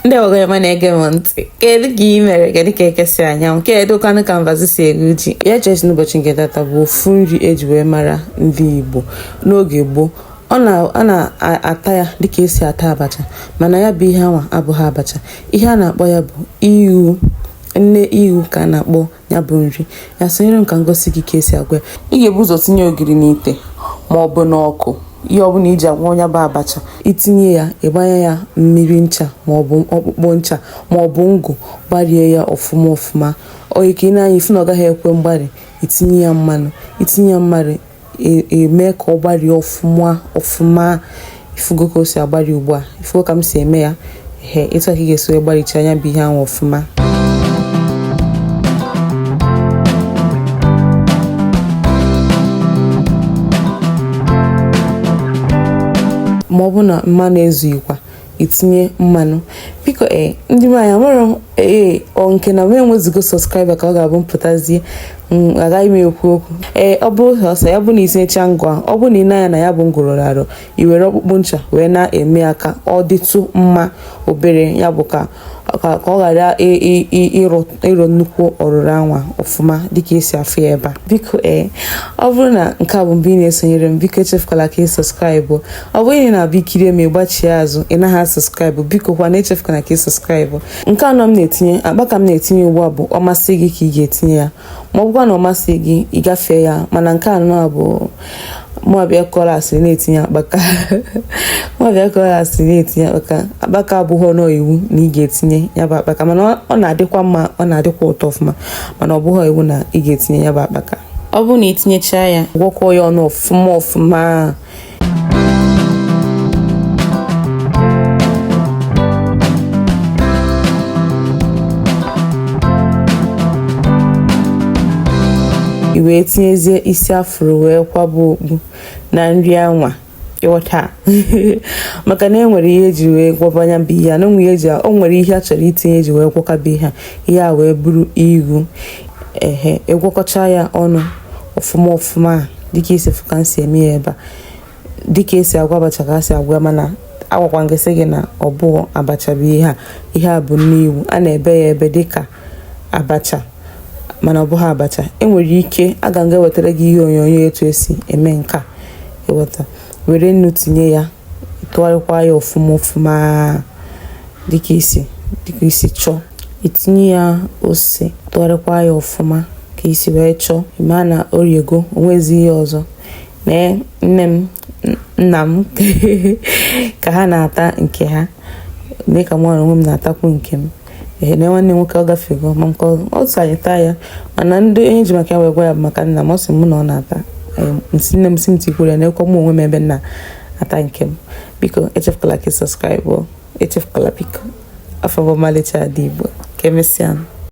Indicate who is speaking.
Speaker 1: ndị ọgọ ọma na-ege m ntị kedu ka ị mere kedu ka eke si anya anwụ kedu kwanụ ka mbazụ si eru ji ya chesi n'ụbọchị nke tata bụ ofu nri eji wee mara ndị Igbo n'oge gboo a na-ata ya dịka esi ata abacha mana ya bụ ihe anwa abụghị abacha ihe a na-akpọ ya bụ iwu nne iwu ka a na-akpọ ya bụ nri ya sonyere m ka m gosi gị ka esi agwọ ya ị ga-ebu ụzọ tinye ogiri n'ite ma ọ bụ n'ọkụ ihe ọbụla i ji agwọ nya bụ abacha itinye ya ịgbanye ya mmiri ncha maọbụ ọkpụkpụ ncha maọbụ ngụ gbarie ya ọfụma ọfụma o yie ka i nee anya ị fụ na ọ gaghị ekwe mgbari itinye ya mmanụ itinye ya mmanụ emee ka ọ gbarie ọfụma ọfụma ifugo ka o si agbari ugbu a ifugo ka m si eme ya ehe etu a ka ị ga-esi wee gbaricha nya bụ ihe ahụ ọfụma ma ọ bụ na mmanụ ezughịkwa itinye mmanụ biko ee eh, ndị nwaanyị nwere ee eh, ọ nke na wee nwezigo subscribe ka ọ ga-abụ mpụtazie mm, agaghị m ekwu okwu ee eh, ọ bụ ọsọ ya bụ na itinyecha ngụ a ọ bụ na i nee anya na ya bụ ngụ rụrụ arụ i were ọkpụkpụ ncha wee na-eme ya ka ọ dịtụ mma obere ya bụ ka ka ọ ghara ịrụ nnukwu ọrụrụ anwa ọfụma dịka esi afụ ya ebe a biko ee ọ bụrụ na nke a bụ mgbe ị na-esonyere m biko echefukwala ka ị subscribe ọ bụrụ na ị na-abịa ikiri m ị gbachie azụ ị naghị asubscribe biko kwa na echefukwala ka ị subscribe nke anwa m na-etinye akpaka m na-etinye ugbu a bụ ọ masị gị ka ị ga-etinye ya ma ọ bụkwa na ọ masị gị ị gafee ya mana nke anwa bụ mụabịa kọrọ asịrị na-etinye akpaka mụabịa kọrọ asịrị na-etinye akpaka akpaka abụghịnụ iwu na ị ga-etinye ya bụ akpaka mana ọ na-adịkwa mma ọ na-adịkwa ụtọ ọfụma mana ọ bụghị iwu na ị ga-etinye ya bụ akpaka ọ bụrụ na itinyechaa ya gwọkọọ ya ọnụ ọfụma ọfụma i wee tinyezie isi a fụrụ wee kwaba okpu na nri anwa ịghọta maka na enwere ihe eji wee gwọba nya bụ ihe na onwe eji o nwere ihe a chọrọ itinye eji wee gwọkọba ihe ihe a wee bụrụ iwu ehe ịgwọkọcha ya ọnụ ọfụma ọfụma dịka i si fụ ka m si eme ya ebe a dịka esi agwọ abacha ka a si agwọ mana agwakwana gị sị gị na ọ bụ abacha bụ ihe a ihe a bụ nne iwu a na-ebe ya ebe dịka abacha mana ọ bụghị abacha enwere ike aga m ga-ewetara gị ihe onyonyo etu esi eme nke a ịghọta were nnu tinye ya ịtụgharịkwa ya ọfụma ọfụma dịka i si dịka i si chọọ itinye ya ose tụgharịkwa ya ọfụma ka i si wee chọọ ịma na oriego o nwezi ihe ọzọ nee nne m nna m ka ha na-ata nke ha mee ka mụ na onwe m na-atakwu nke m ehee nee nwanne nwoke ọ gafego ma nke ọ sị anyị taa ya mana ndị onye ji maka ya wee gwa ya maka nna m ọ sị mụ na ọ na-ata nne m sị m tikwuru ya neekwa m onwe m ebe m na-ata nke m biko echefukwala ka ị subscribe echefukwala like afa m bụ ọmalịcha ada igbo ka emesịa